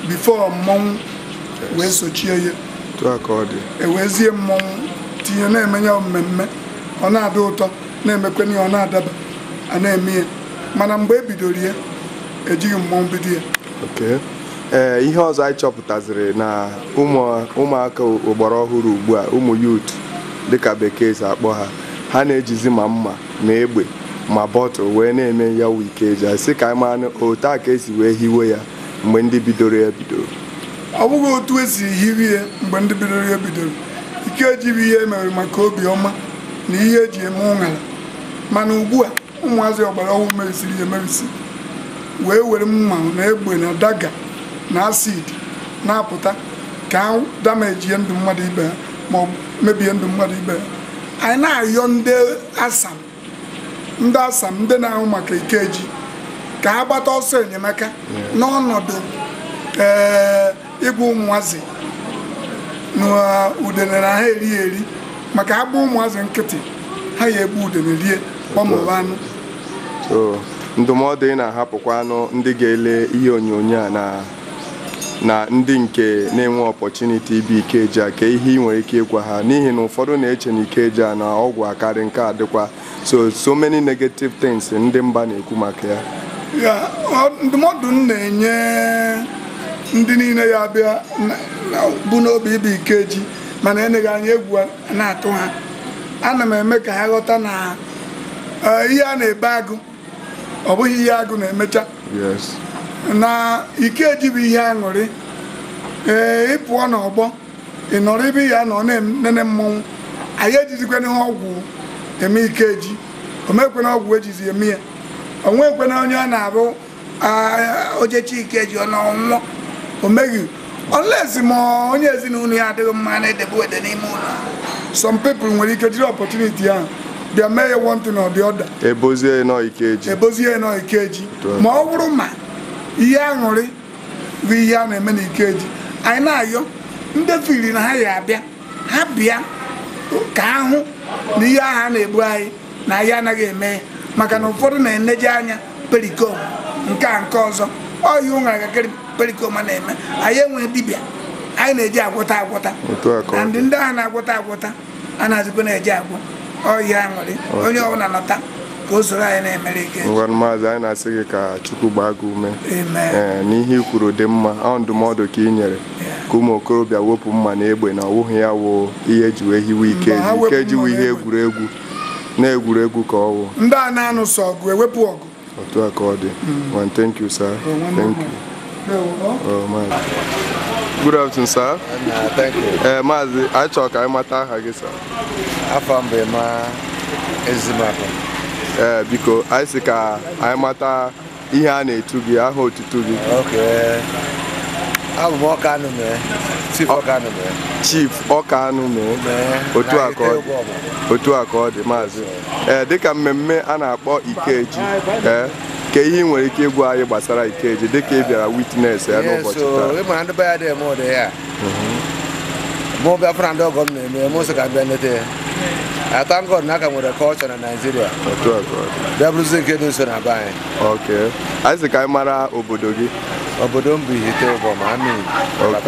before mmọnwụ wee sochie ya otu a ka ọ dị ewezie mmọnwụ tinye na-eme ya mmemme ọ na-adị ụtọ na-emekwana ya ọ na-adaba a na-eme ya mana mgbe e bidoro ya ejighị mmọnwụ bido ya Okay. ee ihe ọzọ anyị chọpụtaziri na ụmụ- ụmụaka ọgbara ọhụrụ ugbu a ụmụ youth dịka bekee si akpọ ha ha na-ejizi ma mma ma egbe ma bottle wee na-eme ya wụ Ikeji sị ka anyị mara otu a ka esi wee hiwe ya mgbe ndị bidoro ya bidoro ọ bụghị otu esi hiwe ya mgbe ndị bidoro ya bidoro Ikeji bụ ihe emere maka obi ọma na ihe eji eme ụṅara mana ugbu a ụmụazị ọgbara ọhụrụ merụsịrị ya emerụsị wee were mma na egbe na dagger na acid na-apụta ka ha damejie ndụ mmadụ ibe ha ma mebie ndụ mmadụ ibe ya anyị na-ayọ ndị asam ndị asam ndị na-ahụ maka ikeji ka ha gbata ọsọ enyemaka n'ọnọdụ ee ịgwa ụmụazị na udene anaha eri eri maka a gba ụmụazị nkịtị ha ya egbu udene rie gbamụrụ anụ so ndụmọdụ ị na-ahapụkwanụ ndị ga-ele ihe onyonyo a na na ndị nke na-enwe opportunity ịbịa Ikeji a ka ihe ị nwere ike ịgwa ha n'ihi na ụfọdụ na-eche na Ikeji a na ọgwụ akarị nke a dịkwa so so many negative things ndị mba na-ekwu maka ya ya ndụmọdụ m na-enye ndị niile ya abịa bu n'obi ịbịa Ikeji mana eneghị anya egwu na-atụ ha ana m eme ka ha ghọta na eh, ihe a na-ebo agụ ọ bụghị ihe agụ na-emecha na Ikeji bụ ihe aṅụrị ee ị pụọ n'ọgbọ ị nọrọ ebe ị ya-anọ na-enene mmọnwụ anyị ejizikwanaha ọgwụ eme Ikeji o nweghịkwanụ ọgwụ ejizi eme ya o nwekwanụ onye ọ na-abụ o jechaa Ikeji ọ naa ọ nwụọ o nweghị unless ma onye ezinụlọ ya adịghị mma na-edebe wede n'ime ụlọ some people nwere ike jiri opportunity ahụ bịa mee ya one thing or the other e bozie na ọ ikeji e bozie na ọ ikeji ma ọ bụrụ ma ihe aṅụrị bụ ihe a na-eme na ikeji anyị na-ayọ ndị feel na ha ya abịa ha bịa ka ha hụ na ihe ahụ a na-ebo anyị na anyị anaghị eme ya maka na ụfọdụ na-eneje anya Pericoma nke a nke ọzọ ọ ihe ụṅara gakịrị Pericoma na-eme anyị enweghị dibịa anyị na-eji agwọta agwọta otu a ka na ọ ndị dị ndị ahụ na-agwọta agwọta anazịkwana eji ọgwụ ọ ihe aṅụrị onye ọbụla nọta ka o soro anyị na-emere Ikeji ngwa maazị anyị na-asị gị ka chukwu gbaa gị ume Amen. ee n'ihe i kwuru dị mma ọ ndụmọdụ ka ị nyere ka ụmụ okorobịa wepụ mma na egbe na ọwụghị ya wụ ihe eji wee hiwe ikeji Mba, ha wepụ ikeji mma wụ na ihe egbe. egwuregwu na egwuregwu ka ọ wụ ndị a na-anụ sọ ọgụ ewepụ ọgụ otu a ka ọ dị Well, thank you sir O, nwanne thank m. you Ndewo, ọ? Oh, maazị. good afternoon sir ee maazị anyị chọrọ ka anyị mata aha gị sir afa m bụ maazị makụ ee biko anyị si ka anyị mata ihe a na-etu gị aha otutu gị abụ m ọkanụmee chief ọkanụmee chief ọkanụmee otu a ka ọ dị otu a ka ọ dị maazị ee dịka mmemme a na-akpọ ikeji ee ka ihe ị nwere ike ịgwa anyị gbasara ikeji dịka ị bịara witness ya n'ụbọchị taa mụ bịa fụ na ndị ọgọ m na-eme mụ sị ka m bịa nleta ya I thank God na a ka nwere culture na Naịjirịa otu a ka ọ dị. bịa bụrụzi nke dị nso na be anyị ok anyị sị ka anyị mara obodo gị obodo m bụ ihite ụbọma amị ok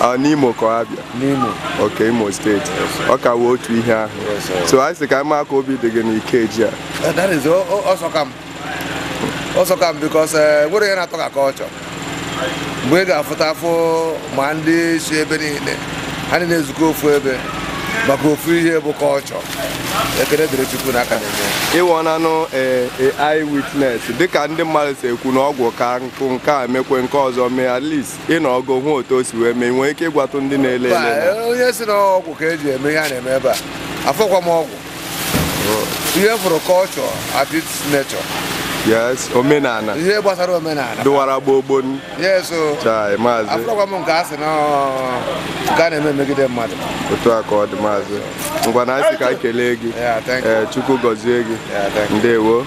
Ah, n'imo ka ọ abịa n'Imo ok imo steeti ọ ka wụ otu ihe ahụ Yes, sir. so anyị sị ka anyị mara ka obi dị gị n'ikeji a Eh, that is o- o- ọ sọka m ọ sọka m because enwerọ ihe na-atọ ka culture mgbe ị ga-afụta afụ ma ndị si ebe niile ha niile ezukọ ofu ebe maka ofu ihe bụ culture ekele dịrị chukwu na a ka na-eme ịwọnanụ eh, eh, eye witness dịka ndị mmadụ si ekwu na ọgwụ ka nkụ nke a mekwe nke ọzọ mee at least ị nọgo hụ otu o si wee mee i nwee ike ịgwatụ ndị na-ele ele onye sị na ọgwụ ka eji eme ihe a na-eme ebe a afụrọkwa m ọgwụ ihe m fụrụ culture at its nature yes omenala ihe gbasara omenala dụwara gboo gboo yes o chai maazị afụrọkwa m nke a sị na nke a na-eme megide mmadụ otu a ka ọ dị maazị ngwa anyị sị ka anyị kelee gị Yeah, thank you. ee chukwu gọzie gị Yeah, thank you. ndewo